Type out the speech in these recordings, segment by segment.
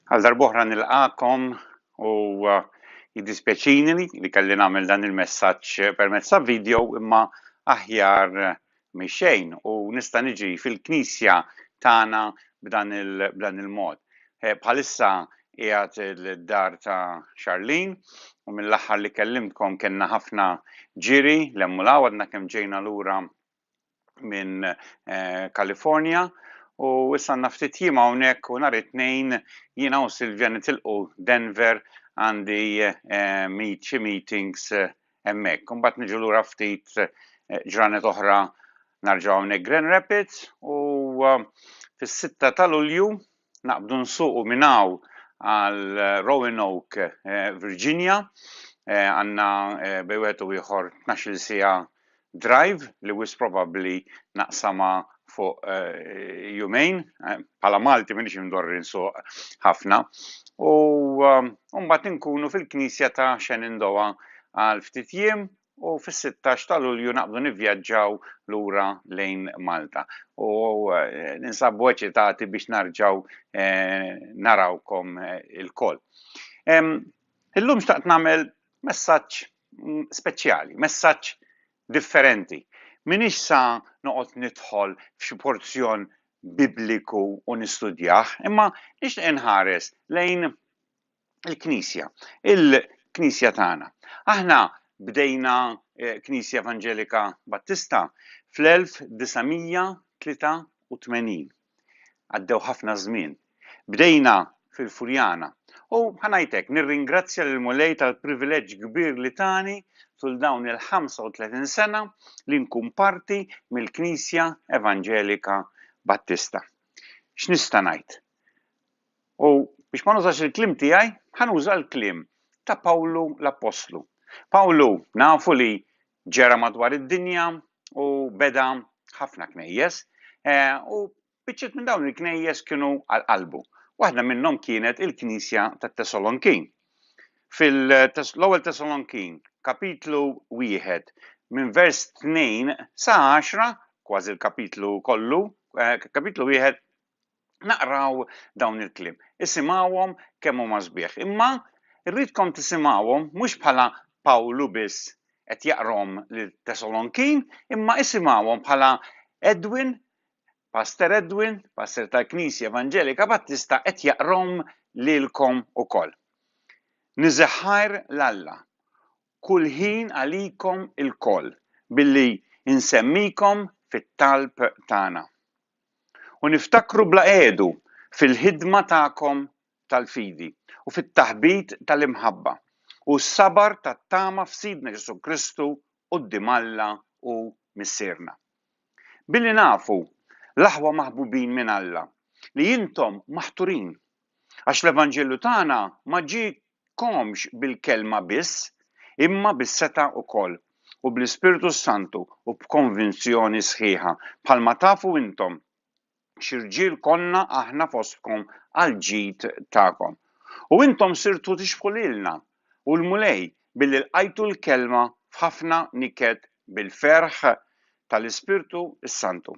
Għal darb'oħra nilqakom u uh, jiddispjaċini li kelli nagħmel dan il-messaġġ permezz ta' video imma aħjar mixejn u nista' niġi fil-knisja tagħna b'dan il-mod. Eh, bħalissa qiegħed il-dar ta' Charlene u mill-aħħar li kellimtkom kellna ħafna ġiri lemmu lawad għadna kemm ġejna lura minn California u issa għandna ftit jiem hawnhekk u nhar it-tnejn jiena u Silvja nitilqu Denver għandi meet xi meetings hemmhekk. Imbagħad niġu lura ftit ġranet oħra narġgħu hawnhekk Grand Rapids u fis-6 ta' Lulju naqbdu nsuqu minn hawn għal Roanoke, Virginia, għandna bejn wieħed u ieħor tnax-il siegħa drive li wisq probabbli naqsamha fuq jumejn, bħala Malti m'iniex imdorri nsuq ħafna, u mbagħad inkunu fil-knisja ta' Shenandoah għal ftit jiem u fis-16 ta' Lulju naqbdu nivvjaġġaw lura lejn Malta. U eh, ninsabu eċitati biex narġaw eh, narawkom eh, il-koll. Illum xtaqt namel messaġġ mm, speċjali, messaġġ differenti. Minix sa noqgħod nidħol f'xi porzjon bibliku u nistudjah, imma nixtieq inħares lejn il-Knisja, il-Knisja tagħna. Aħna bdejna eh, Knisja Evanġelika Battista fl-1983. Għaddew ħafna żmien. Bdejna fil-Furjana. U ħanajtek, nirringrazzja lil mulej tal-privileġġ kbir li tani tul dawn il-35 sena li nkun parti mill-Knisja Evanġelika Battista. X'nista' ngħid? U biex ma nużax il-kliem tiegħi, ħa nuża l-kliem ta' Pawlu l-appostlu. Pawlu nafu li ġera madwar id-dinja u beda ħafna knejjes, eh, u biċċiet minn dawn il-knejjes kienu għal qalbu. Waħda minnhom kienet il-Knisja tat-Tesalonkin. Fil-ewwel Tesalonkin, kapitlu wieħed, minn vers 2 sa 10, kważi l-kapitlu kollu, eh, kapitlu wieħed naqraw dawn il-kliem. Isimgħuhom kemm huma sbieħ. Imma rridkom tisimgħuhom mhux bħala Pawlu biss qed jaqrom lil Tesalonkin, imma isimgħuhom bħala Edwin, Pastor Edwin, Pastor tal-Knisja Evangelika Battista qed jaqrom lilkom ukoll. Niżeħħar l-Alla kull ħin għalikom il-koll billi insemmikom fit-talb tagħna. u niftakru bla qegħdu fil-ħidma tagħkom tal-fidi u fit-taħbit tal-imħabba u s-sabar tat-tama f'Sidna Ġesù Kristu quddiem Alla u Missierna. Billi nafu, l-aħwa maħbubin minn Alla, li intom maħturin Għax l-Evanġelju tagħna ma ġiekomx bil-kelma biss, imma bis-setgħa wkoll, u bl-Ispirtu s-Santu, u b'konvinzjoni sħiħa, bħalma tafu intom xi rġiel konna aħna fostkom għall-ġid tagħkom. U intom sirtu tixbħu lilna u l-Mulej billi lqajtu l-kelma f'ħafna niket bil-ferħ tal-Ispirtu s-Santu.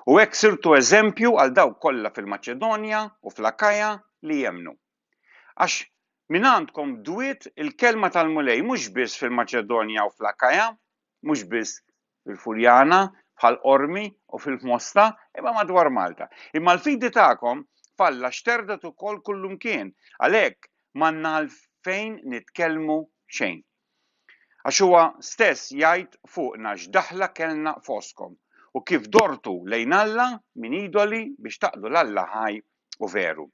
U hekk sirtu eżempju għal dawk kollha fil-Maċedonja u fl-Akaja li jemmnu. Għax mingħandkom dwiet il-kelma tal-Mulej mhux biss fil-Maċedonja u fl-Akaja, mhux biss fil-Furjana, bħall-Qormi u fil-Mosta, imma madwar Malta. Imma l-fidi tagħkom f'Alla xterdet ukoll kullumkien, għalhekk m'għandna għalfejn nitkellmu xejn. Għax huwa stess jgħid fuqna x'daħla kellna fostkom u kif dortu lejn Alla minn idoli biex taqtlu l-Alla ħaj u veru.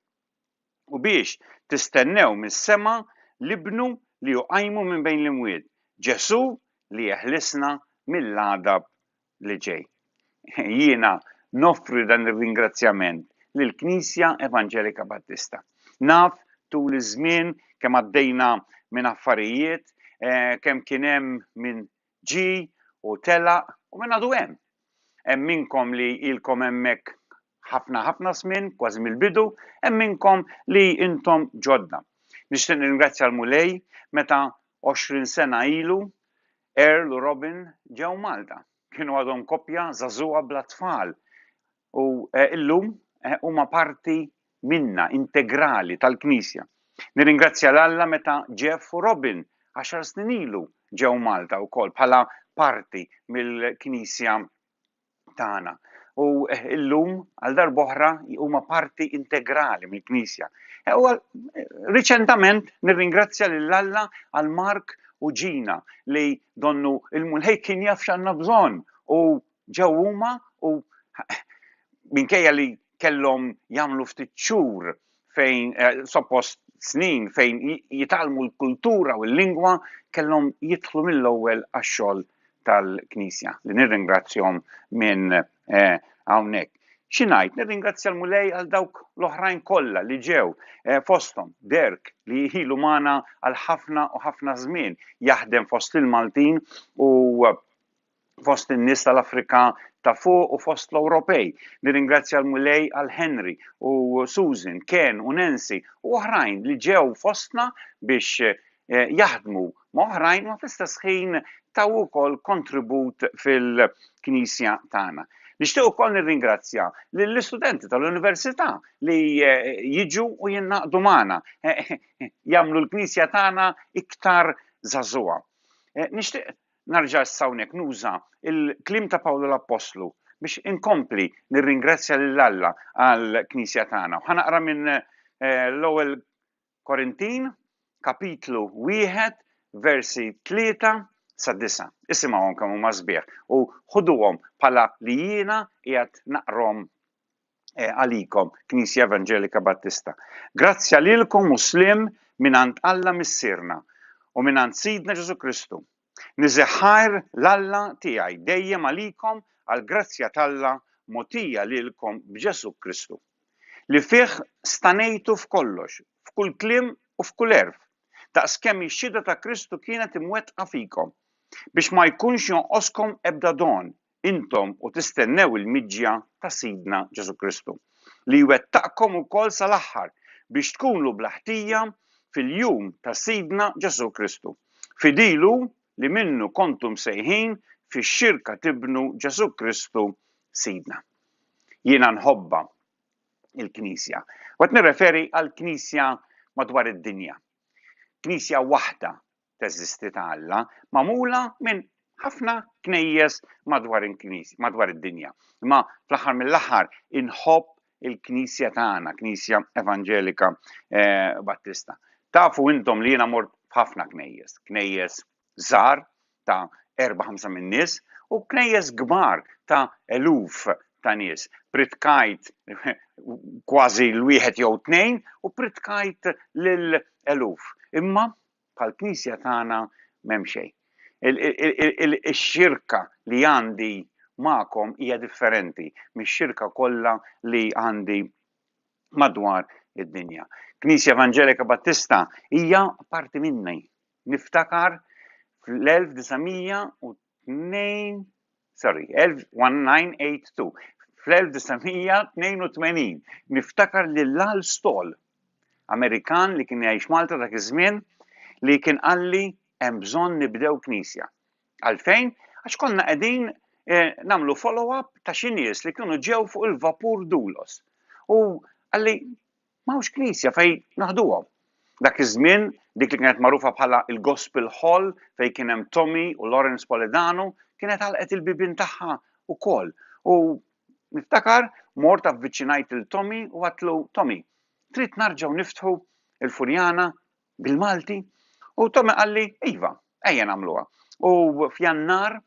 U biex tistennew mis-sema l-Ibnu li hu qajmu minn bejn l-imwiet, Ġesù li jeħlisna mill-għadab li ġej. Jiena noffri dan ir-ringrazzjament lill-Knisja Evanġelika Battista. Naf tul iż-żmien kemm għaddejna minn affarijiet, eh, kemm kien hemm min ġi u telaq u minn għadu hemm. Hemm minnkom li ilkom hemmhekk ħafna ħafna żmien, kważi mill-bidu, hemm minnkom li intom ġodda. Nixtieq nirringrazzja l-Mulej meta 20 sena ilu Earl u Robin ġew Malta. Kienu għadhom koppja żagħżugħa bla tfal u llum huma parti minna, integrali tal-Knisja. Nirringrazzja 'l Alla meta Jeff u Robin għaxar snin ilu ġew Malta wkoll bħala parti mill-Knisja tagħna. U eh, illum għal darboħra huma parti integrali mill-Knisja. Eh, u eh, riċentament nirringrazzja lil Alla għal Mark u Ġina li donnu il-mulħej kien jaf x'għandna bżonn u ġew huma u minkejja li kellhom jagħmlu ftit xhur fejn eh, suppost snin fejn jitalmu l-kultura u l-lingwa kellhom jidħlu mill-ewwel għax-xogħol tal-Knisja li nirringrazzjom minn eh, hawnhekk. Xinajt, nirringrazzja l-Mulej għal dawk l-oħrajn kollha li ġew eh, fosthom Derk li jħilu magħna għal ħafna u ħafna żmien jaħdem fost il-Maltin u fost in-nies tal-Afrika ta' fuq u fost l-Ewropej. Nirringrazzja l-Mulej għal Henry u Susan, Ken u Nancy u oħrajn li ġew fostna biex eh, jaħdmu ma' oħrajn u fl-istess ħin taw ukoll kontribut fil-Knisja tagħna. Nixtieq ukoll nirringrazzja lill-istudenti tal-Università li eh, jiġu u jinnaqdu magħna, eh, jagħmlu l-Knisja tagħna iktar żagħżugħa. Eh, nixtieq Nerġa' issa hawnhekk nuża l-kliem ta' Pawlu l-Appostlu biex inkompli nirringrazzja lil Alla għall-Knisja tagħna. U ħanaqra minn eh, l-ewwel Korintin, kapitlu wieħed, versi tlieta sa disa. Isimgħuhom kemm huma sbieħ u ħuduhom bħala li jiena qiegħed naqrom eh, għalikom, Knisja Evangelika Battista. Grazzja lilkom u slim minant Alla Missirna u minant Sidna Ġesu Kristu. Nizeħħajr l-Alla tiegħi dejjem għalikom għal grazzja t'Alla motija lilkom b'Ġesu Kristu. Li fih stanejtu f'kollox, f'kull klim u f'kull erf, daqs kemm ix-xhieda ta' Kristu kienet imwettqa fikom biex ma jkunx jonqoskom ebda don, intom u tistennew il-miġja ta' Sidna Ġesù Kristu, li jwettaqkom ukoll sal-aħħar biex tkunu bla ħtija fil-jum ta' Sidna Ġesù Kristu. Fidilu li minnu kontu msejħin fix-xirka t'Ibnu Ġesù Kristu Sidna. Jiena nħobbha il-Knisja. U qed nirreferi għall-Knisja madwar id-dinja. Knisja waħda teżisti ta' Alla, magħmula minn ħafna knejjes madwar il-knisja, madwar id-dinja. Imma fl-aħħar mill-aħħar inħobb il-knisja tagħna, knisja evanġelika eh, battista. Tafu intom li jiena mort ħafna knejjes, knejjes żar ta' 4-5 minn nies u knejjes kbar ta' eluf ta' nies. Pritkajt kważi l-wieħed jew tnejn u pritkajt lil eluf. Imma bħall-Knisja tagħna m'hemm xejn. Ix-xirka li għandi magħkom hija differenti mix-xirka kollha li għandi madwar id-dinja. Knisja Evanġelika Battista hija parti minni. Niftakar fl-1900 sorry, 1982. Fl-1982 niftakar li l-Lal Stol, Amerikan li kien jgħix Malta dak iż-żmien, li kien qalli hemm bżonn nibdew knisja. Għalfejn? Għax konna qegħdin eh, namlu follow-up ta' xi nies li kienu ġew fuq il-vapur Dulos. U għalli M'hawnx knisja fejn naħduhom. Dak iż-żmien dik li kienet magħrufa bħala l-Gospel Hall fejn kien hemm Tommy u Lawrence Poledano kienet għalqet il-bibien tagħha wkoll u niftakar mort avviċinajt lil Tommy u għadtlu Tommy, trid narġgħu niftħu il-Furjana bil-Malti? U Tommy qalli iva, ejja nagħmluha. U f'Jannar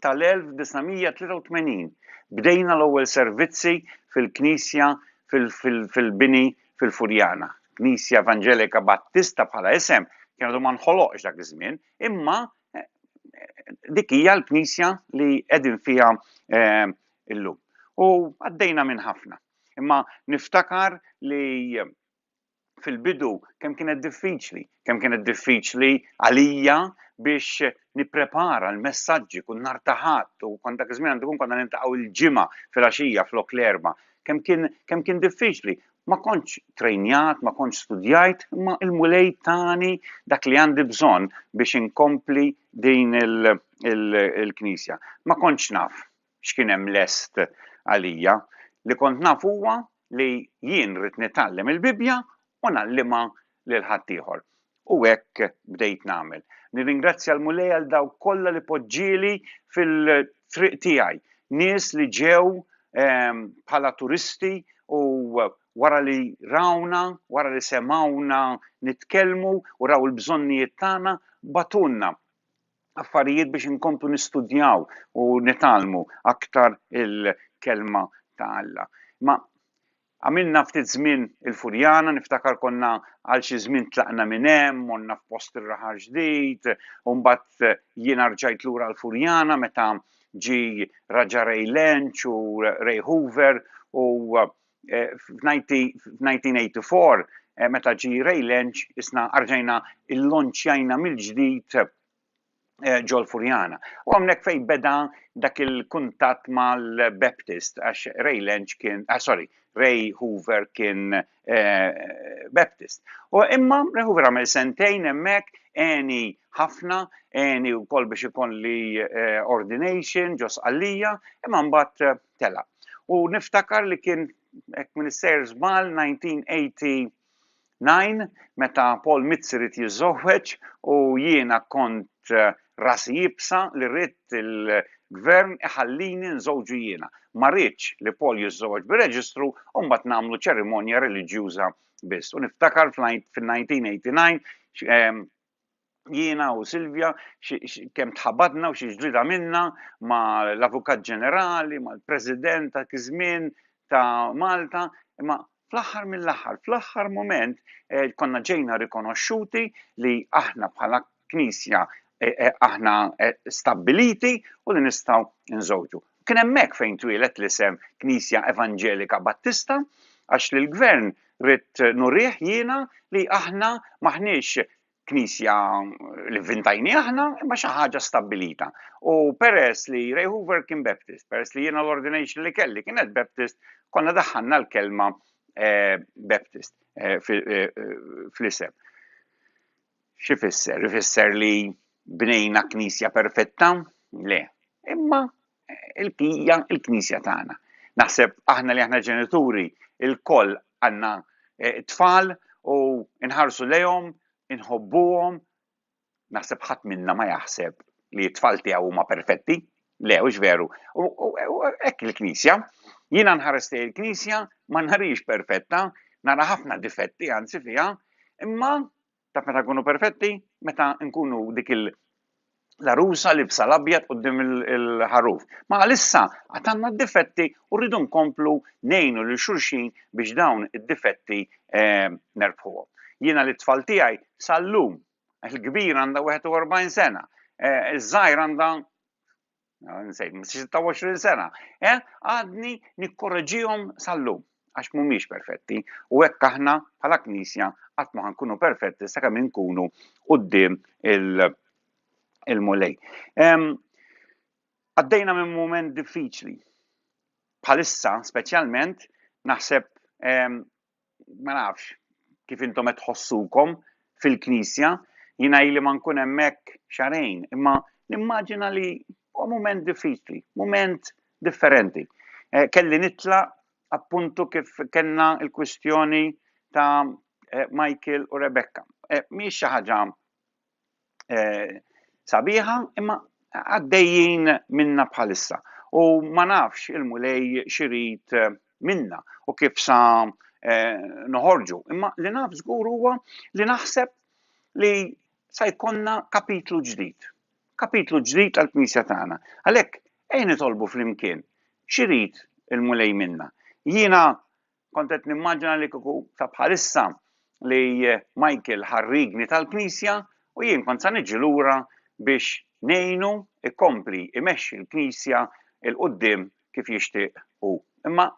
tal-1983 bdejna l-ewwel servizzi fil-knisja fil-bini fil-Furjana. Knisja Evanġelika Battista bħala isem kien għadu ma nħoloqx dak iż-żmien, imma dik hija l-knisja li qegħdin fiha illum. U għaddejna minn ħafna. Imma niftakar li fil-bidu kemm kienet diffiċli, kemm kienet diffiċli għalija biex nipprepara l-messaġġi kun nar taħat u kont dak iż-żmien għandu kun konna nintaqgħu l-ġimgħa fil-għaxija flok l-erba. Kemm kien kemm kien diffiċli. Ma kontx trejnjat, ma kontx studjajt, imma il-mulej tani dak li għandi bżonn biex inkompli din il-knisja. Ma kontx naf, x'kien hemm lest għalija. Li kont naf huwa li jien rrid nitgħallem il-Bibbja u ngħallimha lil ħaddieħor. U hekk bdejt nagħmel. Nirringrazzja l-Mulej għal dawk kollha li poġġieli fil-triq tiegħi. Nies li ġew ehm, bħala turisti u wara li rawna, wara li semawna nitkellmu u raw il-bżonnijiet tagħna batunna affarijiet biex inkomplu nistudjaw u nitalmu aktar il-kelma ta' Alla. Ma għamilna ftit żmien il-Furjana, niftakar konna għal xi żmien tlaqna minn hemm, monna f'post ir-raħal ġdid, u mbagħad jien arġajt lura l-Furjana meta ġi Raġa Ray Lench u Ray Hoover u eh, f'1984 eh, meta ġi Ray Lench isna arġajna il-lonċjajna mill-ġdid eh, ġol Furjana. U għamnek fej beda dak il-kuntat mal-Baptist, għax Ray Lench kien, ah, sorry, Ray Hoover kien Baptist. U imma Ray Hoover għamil sentejn emmek, eni ħafna, eni u kol biex ikon li ordination, ġos għallija, imma mbatt tela. U niftakar li kien hekk minn is-sejr żball 1989 meta Paul Mizzi rid jiżżewweġ u jiena kont eh, rasi jibsa li rrid il-gvern iħallini nżewġu jiena. Ma rridx li Paul jiżżewweġ bir-reġistru u mbagħad nagħmlu ċerimonja reliġjuża biss. U niftakar fl-1989 jiena u Silvia kemm tħabadna u xi ġdida minna ma l-Avukat Ġenerali, ma l-President ta' kizmin ta' Malta, imma fl-aħħar mill-aħħar, fl-aħħar moment eh, konna ġejna rikonoxxuti li aħna bħala knisja eh, eh, aħna stabiliti u li nistgħu nżewġu. Kien hemmhekk fejn twieled l-isem Knisja Evanġelika Battista għax lill-Gvern ridt nurih jiena li aħna m'aħniex knisja li vvintajni aħna, imma xi ħaġa stabbilita. U peress li Ray Hoover kien Baptist, peress li jiena l-ordination li kelli kienet Baptist, konna daħħalna l-kelma eh, Baptist eh, eh, fl-isem. X'ifisser? Ifisser li bnejna knisja perfetta? Le. Imma il-kija il-knisja tagħna. Naħseb aħna li aħna ġenituri il-koll għandna eh, tfal u nħarsu lejhom, inħobbuhom. Naħseb ħadd minna ma jaħseb li t-tfal tiegħu huma perfetti, Le, hux veru. U hekk il-Knisja, jiena nħares lejn il-Knisja ma nħarix perfetta, nara ħafna difetti anzi fiha, imma ta' meta nkunu perfetti, meta nkunu dik il larusa li bsa l-abjad qudiem il-ħaruf. Ma għalissa għatanna d-difetti u rridu nkomplu nejnu li xulxin biex dawn id-difetti eh, nerbħuhom. Jiena li tfal tiegħi sal-lum Il-kbir għandha 41 sena, eh, iż-żgħir għandha eh, nsejt 26 sena. Eh, għadni nikkoreġihom sal-lum għax mhumiex perfetti u hekk aħna bħala knisja qatt ma nkunu perfetti sakemm inkunu quddiem il-mulej. Għaddejna minn mument diffiċli. Bħalissa speċjalment naħseb ma nafx, kif intom qed tħossukom fil-Knisja, jiena ili ma nkun hemmhekk xarejn, imma nimmaġina li huwa mument diffiċli, mument differenti. Eh, kelli nitla appuntu kif kellna il-kwistjoni ta' eh, Michael u Rebecca. Eh, mhix xi ħaġa eh, sabiħa, imma għaddejjin minna bħalissa. U ma nafx il-mulej xirit eh, minna u kif sa eh, noħorġu. Imma li naf żgur huwa li naħseb li sa jkonna kapitlu ġdid. Kapitlu ġdid għal-Knisja tagħna. Għalhekk ejn nitolbu flimkien xirid il-mulej minna. Jiena Kont qed nimmaġina li kieku ta' bħalissa li Michael ħarrigni tal-Knisja u jien kont sa niġi lura biex ngħinu ikompli imexxi l-Knisja il quddiem kif jixtieq hu. Imma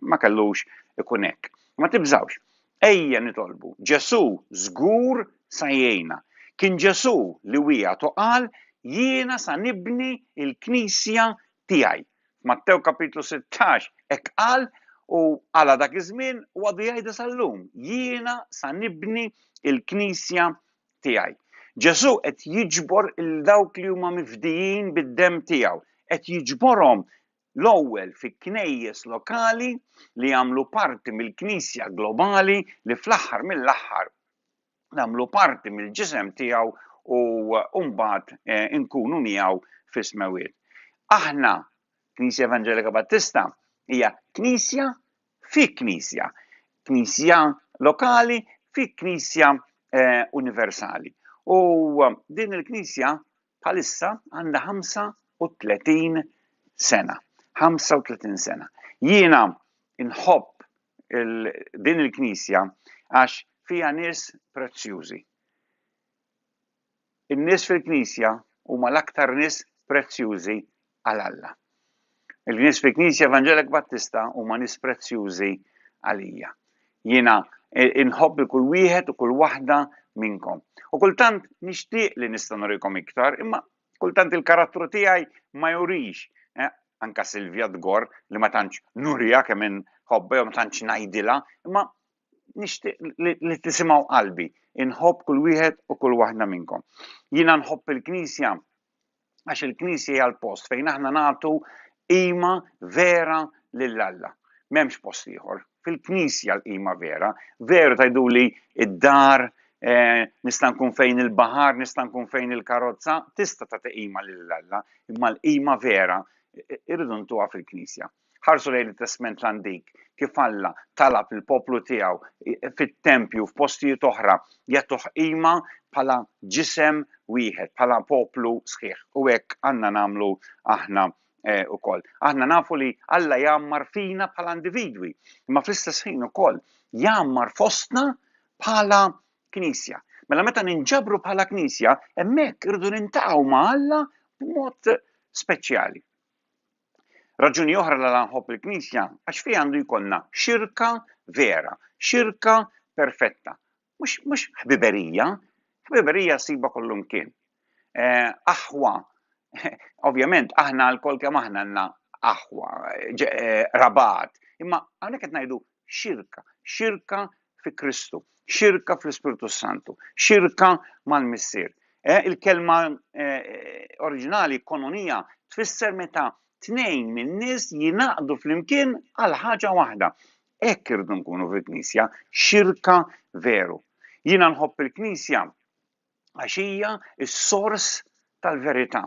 ma kellux ikun hekk. Ma tibżawx. Ejja nitolbu. Ġesu żgur sa jgħinna. Kien Ġesu li wieħed u qal jiena sa nibni il-Knisja tiegħi. F'Mattew kapitlu 16 hekk qal u għala dak iż-żmien u għadu jgħidha sal-lum, jiena sa nibni il-Knisja tiegħi. Ġesù qed jiġbor il dawk li huma mifdijin bid-dem tiegħu, qed jiġborhom l-ewwel fi knejjes lokali li jagħmlu parti mill-Knisja globali li fl-aħħar mill-aħħar nagħmlu parti mill-ġisem tiegħu u mbagħad eh, inkunu miegħu fis-smewiet. Aħna, Knisja Evangelika Battista, hija knisja fi knisja, knisja lokali fi knisja eh, universali. U eh, din il-knisja bħalissa għandha 35 sena. 35 sena. Jiena inħobb din il-Knisja għax fiha nies prezzjużi. In-nies fil-Knisja huma l-aktar nies prezzjużi għal Alla. Il-nies fil-Knisja Evangelek Battista huma nies prezzjużi għalija. Jiena e, inħobb il kull wieħed u kull waħda minnkom. U kultant nixtieq li nista' norikom iktar, imma Kultant il-karattru tiegħi ma jurix, eh, anka Silvia Dgor li ma tantx nurija kemm inħobba jew ma tantx ngħidilha, imma nixtieq li tisimgħu qalbi, inħobb kull wieħed u kull waħda minnkom. Jiena nħobb il-Knisja għax il-Knisja hija l-post fejn aħna nagħtu Qima vera lil Alla. M'hemmx post ieħor. Fil-Knisja l-qima vera. Veru tgħiduli d-dar, eh, nista' nkun fejn il-baħar, nista' nkun fejn il-karozza, tista' tagħti qima lil Alla, imma l-qima vera irridu ntuha fil-Knisja. Ħarsu lejn it-Testment l-Antik kif Alla talab il-poplu tiegħu fit-tempju f'postijiet oħra jagħtuh qima bħala ġisem wieħed, bħala poplu sħiħ. U hekk għandna nagħmlu aħna ukoll. Eh, aħna nafu li Alla jgħammar fina bħala individwi, imma fl-istess ħin ukoll jgħammar fostna bħala knisja. Mela meta ninġabru bħala knisja, hemmhekk irridu nintaqgħu ma' Alla b'mod speċjali. Raġuni oħra l-għala nħobb il-Knisja għax fiha għandu jkollna xirka vera, xirka perfetta. Mhux ħbiberija, ħbiberija siba kollu mkien. Eh, aħwa, ovvjament aħna l-kol kemm aħna għandna aħwa, eh, rabat, imma hawnhekk qed ngħidu Xirka, xirka fi Kristu, xirka fl-Ispirtu Santu, xirka mal-Missier. Eh, il-kelma eh, oriġinali kononija tfisser meta tnejn minn nies jinaqdu flimkien għal ħaġa waħda. Hekk irdu nkunu fil-Knisja, xirka veru. Jiena nħobb il-Knisja għax hija s-sors tal-verità.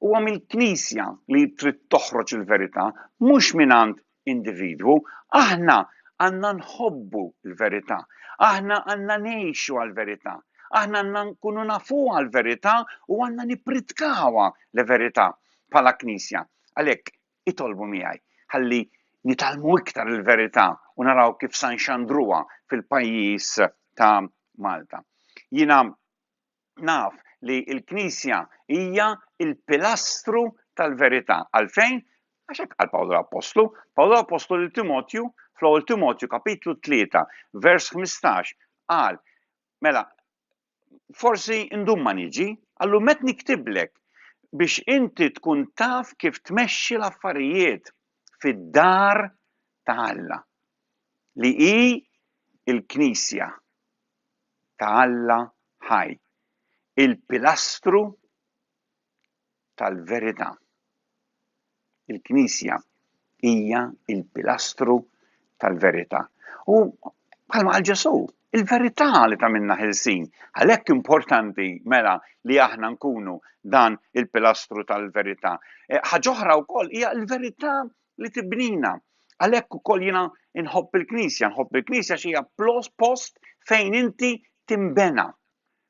Huwa mill-Knisja li trid toħroġ il-verità, mhux mingħand individwu. Aħna għandna nħobbu l-verità, aħna għandna ngħixu għall-verità, aħna għandna nkunu nafu għall-verità u għandna nippritkawa l-verità bħala Knisja. Għalhekk Itolbu miegħi ħalli nitgħallmu iktar il-verità u naraw kif sa nxandruha fil-pajjiż ta' Malta. Jiena naf li l-Knisja hija il-pilastru tal-verità. Għalfejn? Għax hekk qal Pawlu l-Appostlu. Pawlu l-Appostlu lil Timotju, fl-ewwel Timotju kapitlu 3, vers 15, qal, mela forsi ndum ma niġi, allum qed niktiblek biex inti tkun taf kif tmexxi l-affarijiet fid-dar ta' Alla li hi l-Knisja ta' Alla ħaj, il-pilastru tal-verità. Il-Knisja hija l-pilastru tal-verità. U bħalma għal Ġesu, il-verità li ta' minna ħilsin. Għalhekk importanti mela li aħna nkunu dan il-pilastru tal-verità. E, ħaġoħra wkoll hija l-verità li tibnina. Għalhekk ukoll jiena nħobb il-Knisja, nħobb il-Knisja xi hija post fejn inti timbena.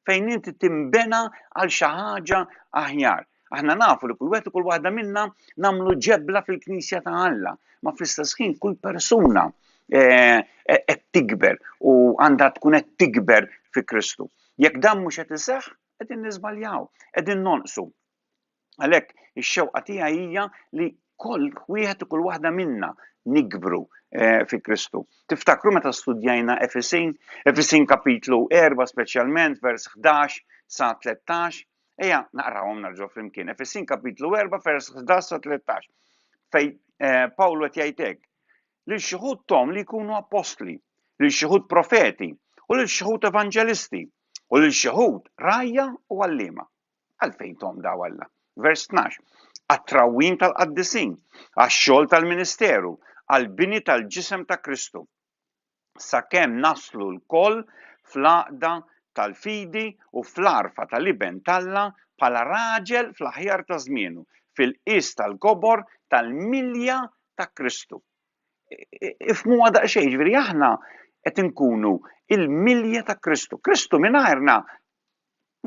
fejn inti timbena għal xi ħaġa aħjar. Aħna nafu li kull wieħed u kull waħda minna nagħmlu ġebla fil-Knisja ta' Alla, ma fl-istess ħin kull persuna eh, eh, qed tikber u għandha tkun qed tikber fi Kristu. Jekk dan mhux qed iseħħ, qegħdin niżbaljaw, qegħdin nonqsu. Għalhekk ix-xewqa tiegħi hija li kull wieħed u kull waħda minna nikbru eh, fi Kristu. Tiftakru meta studjajna Efesin, Efesin kapitlu 4 speċjalment vers 11 sa 13, eja naqrawhom narġgħu flimkien. Efesin kapitlu 4 vers 11 sa 13 fej eh, Pawlu qed jgħidek li xuħud tom li jkunu apostli, li xuħud profeti u li xuħud evanġelisti u li xuħud rajja u għallima. Għalfejn tomdaw Alla? Vers 12, Għat-trawwim tal-qaddisin, għax-xogħol tal-ministeru, għall-bini tal-ġisem ta' Kristu, sakemm naslu lkoll fl-għaqda tal-fidi u fl-għarfa tal-Iben t'Alla bħala raġel fl-aħjar ta' żmienu, fil-qies tal-kobor tal-milja ta' Kristu. Ifhmuha daqsxejn, jiġifieri aħna qed inkunu il-milja ta' Kristu. Kristu mingħajrna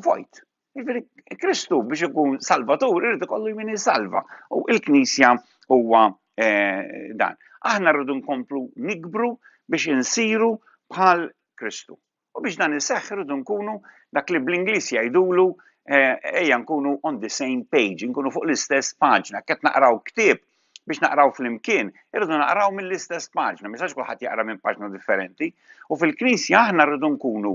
vojt. Jiġifieri Kristu biex ikun salvatur irid ikollu min salva. U l-Knisja huwa eh, dan. Aħna rridu nkomplu nikbru biex insiru bħal Kristu. U biex dan iseħħ irridu nkunu dak li bl-Ingliż jgħidulu eh, ejja nkunu on the same page, nkunu fuq l-istess paġna, qed naqraw ktieb biex naqraw fl-imkien, irridu naqraw mill-istess paġna, misax kulħadd jaqra minn paġna differenti, u fil-Knisja aħna rridu nkunu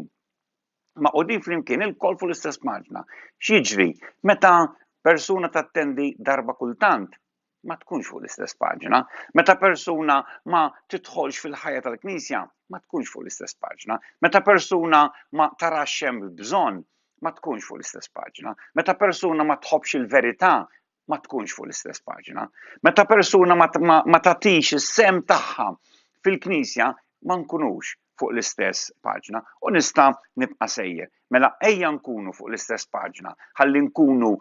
maqudin flimkien ilkoll fuq l-istess paġna. X'jiġri meta persuna tattendi darba kultant ma tkunx fuq l-istess paġna. Meta persuna ma tidħolx fil-ħajja tal-Knisja, ma tkunx fuq l-istess paġna. Meta persuna ma tarax hemm bżonn, ma tkunx fuq l-istess paġna. Meta persuna ma tħobbx il-verità, ma tkunx fuq l-istess paġna. Meta persuna ma, ma, ma tatix is-sem tagħha fil-Knisja, ma nkunux fuq l-istess paġna u nista' nibqa' sejjer. Mela ejja nkunu fuq l-istess paġna, ħalli nkunu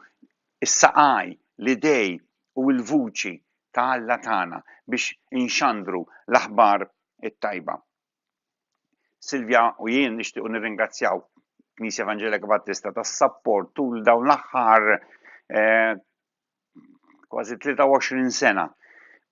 s-saqaj, l-idej u l-vuċi ta' Alla tagħna biex inxandru l-aħbar it-tajba. Silvia u jien nixtiequ nirringrazzjaw Knisja Evangelika Battista tas-sapport tul dawn l-aħħar eh, kważi 23 sena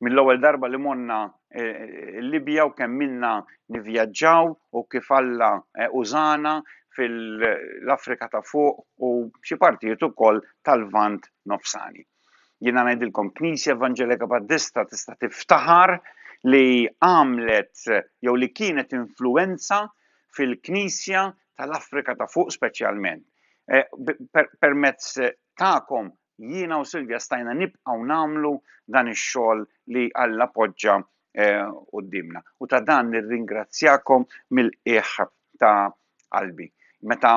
mill-ewwel darba li monna eh, l-Libja u kemm minna nivvjaġġaw u kif Alla eh, użana fil-Afrika ta' fuq u xi partijiet ukoll tal-Vant Nofsani. Jiena ngħidilkom Knisja Evanġelika Battista tista' tiftaħar li għamlet jew li kienet influenza fil-Knisja tal-Afrika ta' fuq speċjalment. Eh, permezz tagħkom jiena u Silvja stajna nibqgħu nagħmlu dan ix-xogħol li Alla poġġa eh, qudiemna. U ta' dan nirringrazzjakom mill-qiegħ ta' qalbi. Meta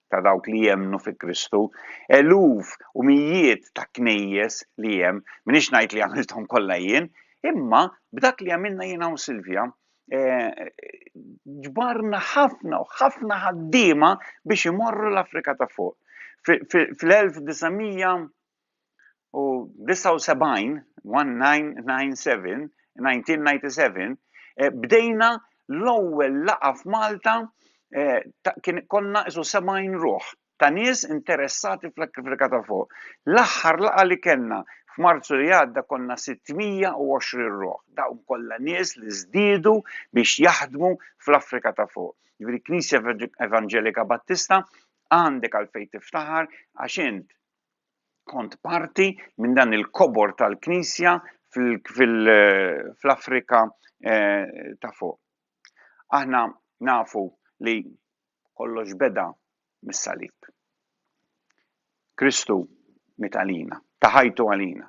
ta' dawk li jemnu fi Kristu, eluf u mijiet ta' knejjes li hemm, minix ngħid li għamilthom kollha jien, imma b'dak li għamilna jiena u Silvja, eh, ġbarna ħafna u ħafna ħaddiema biex imorru l-Afrika ta' fuq. Fl-1900 u 79, 1997, 1997, eh, bdejna l-ewwel laqa f'Malta eh, kien konna isu 70 ruħ ta' nies interessati fl-Afrika ta' fuq. L-aħħar laqa li kellna F'Marzu li għadda konna 620 ruħ, dawn kollha nies li żdiedu biex jaħdmu fl-Afrika ta' fuq. Ġifieri Knisja Evangelika Battista għandek għalfejn tiftaħar għax int Kont parti minn dan il-kobor tal-Knisja fl-Afrika eh, ta' fuq. Aħna nafu li kollox beda mis-salib. Kristu mit għalina, taħajtu għalina.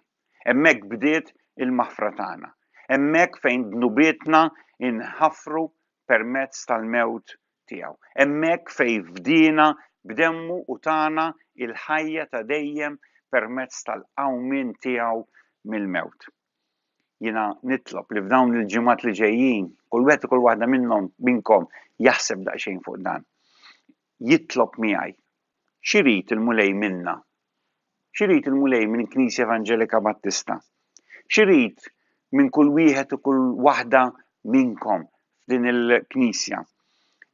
Emmek bdiet il-maħfra tagħna. Emmek fejn dnubietna inħafru permezz tal-mewt Tiegħu. Hemmhekk fejn fdiena b'demmu u tana il-ħajja ta' dejjem permezz tal-qawmien tiegħu mill-mewt. Jiena nitlob li f'dawn il-ġimgħat li ġejjin kull wieħed u kull waħda minnhom minnkom jaħseb daqsxejn fuq dan. Jitlob miegħi X'irid il-Mulej minna? X'irid il-Mulej minn Knisja Evanġelika Battista? X'irid minn kull wieħed u kull waħda minnkom f'din il-Knisja?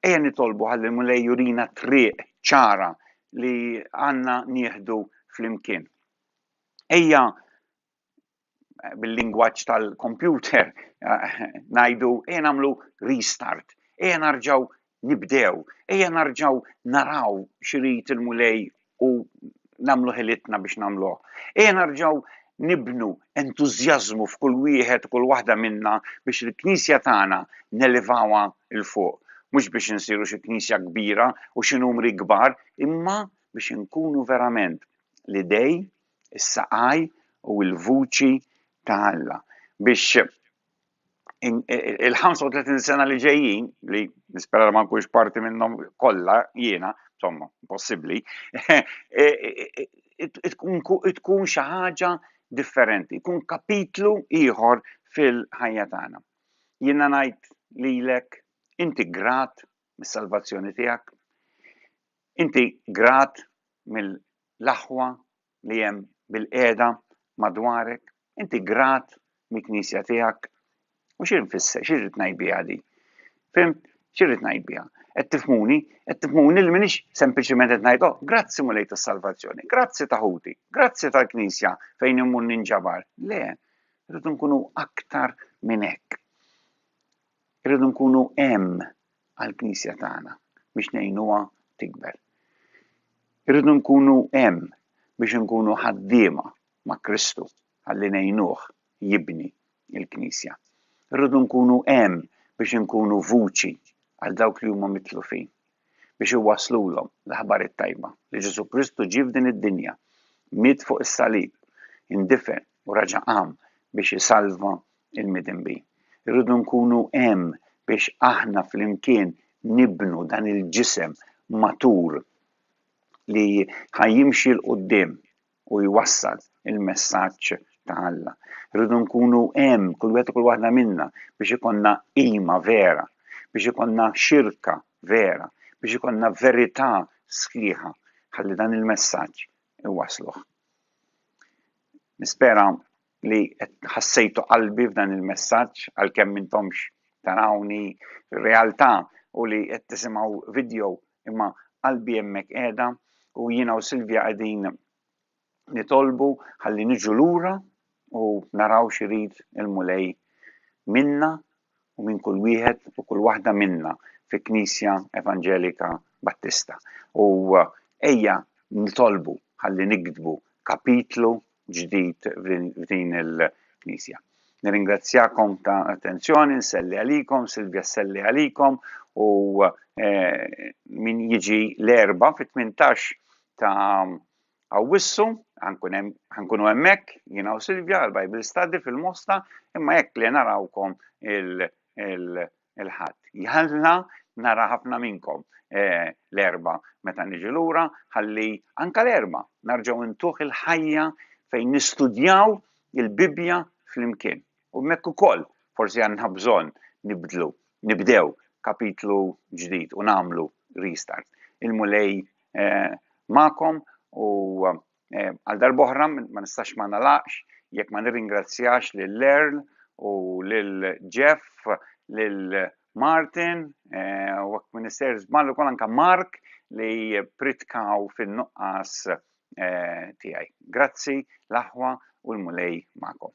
Ejja nitolbu ħalli l-Mulej jurina triq ċara li għandna nieħdu flimkien. Ejja bil-lingwaġġ tal-kompjuter ngħidu ejja nagħmlu restart, ejja narġgħu nibdew, ejja narġgħu naraw x'irid il-Mulej u nagħmlu ħilitna biex nagħmluh. Ejja narġgħu nibnu entużjażmu f'kull wieħed u kull waħda minna biex il-Knisja tagħna nelevawha il fuq. Mhux biex insiru xi Knisja kbira u xi numri kbar, imma biex inkunu verament l-idej is-saqaj u l-vuċi ta' Alla biex il-35 sena li ġejjin li nispera ma nkunx parti minnhom kollha jiena, insomma, possibbli, e, e, e, tkun xi ħaġa differenti, tkun kapitlu ieħor fil-ħajja tagħna. Jiena ngħid lilek inti grat mis-salvazzjoni tiegħek, inti grat mill l-aħwa li hemm bilqiegħda madwarek, inti grat mill-knisja tiegħek. U xi nfisser, xi rrid ngħid biha di? Fimt, xi rrid ngħid biha? Qed tifmuni, qed tifmuni li minix sempliċement qed ngħid, oh, grazzi mulej tas-salvazzjoni, grazzi ta' ħuti, grazzi tal-knisja fejn immur ninġabar. Le, rridu nkunu aktar minn hekk. Irridu nkunu hemm għall-Knisja tagħna biex ngħinuha tikber. Irridu nkunu hemm biex inkunu ħaddiema ma' Kristu ħalli ngħinuh jibni l-Knisja. Irridu nkunu hemm biex inkunu vuċi għal dawk li huma mitlufin. biex iwasslulhom l-aħbar it-tajba li Ġesù Kristu ġie f'din id-dinja, miet fuq is-salib, indifen u raġa' qam biex isalva l-midinbin. Irridu nkunu hemm biex aħna flimkien nibnu dan il-ġisem matur li ħajjimxi l quddiem u jwassal il-messaġġ ta' Alla. Rridu nkunu hemm kull wieħed kull waħda minna biex ikonna qima vera, biex ikonna xirka vera, biex ikonna verità sħiħa ħalli dan il-messaġġ iwasluh. Nispera li ħassejtu qalbi f'dan il-messaġġ għalkemm intomx tarawni realtà u li qed tisimgħu video imma qalbi hemmhekk qiegħda u jiena u Silvja qegħdin nitolbu ħalli niġu lura u naraw x'irid il-Mulej minna u minn kull wieħed u kull waħda minna fi Knisja Evanġelika Battista. U uh, ejja nitolbu ħalli nikdbu kapitlu ġdid f'din il-Knisja. Nirringrazzjakom ta' attenzjoni, nselli għalikom, Silvia selli għalikom u eh, min jiġi l-erba fit-18 ta' Awwissu, ħankunu hemmhekk jiena u Silvia għal Bible Study fil-Mosta, imma hekk li narawkom il- il-Ħadd. Jalla nara ħafna minnkom eh, l-erba meta niġi lura, ħalli anka l-erba narġgħu ntuħ il-ħajja fejn nistudjaw il-Bibbja flimkien. U mekk ukoll forsi għandna bżonn nibdlu, nibdew kapitlu ġdid u nagħmlu restart. Il-mulej eh, ma'kom u eh, Eh, għal darboħra ma nistax ma nalaqx jekk ma nirringrazzjax lil Earl u lil Jeff, lil Martin, eh, u għak minister zballu kol anka Mark li pritkaw fin-nuqqas eh, tijaj. Grazzi, l-aħwa u l-mulej ma'kom.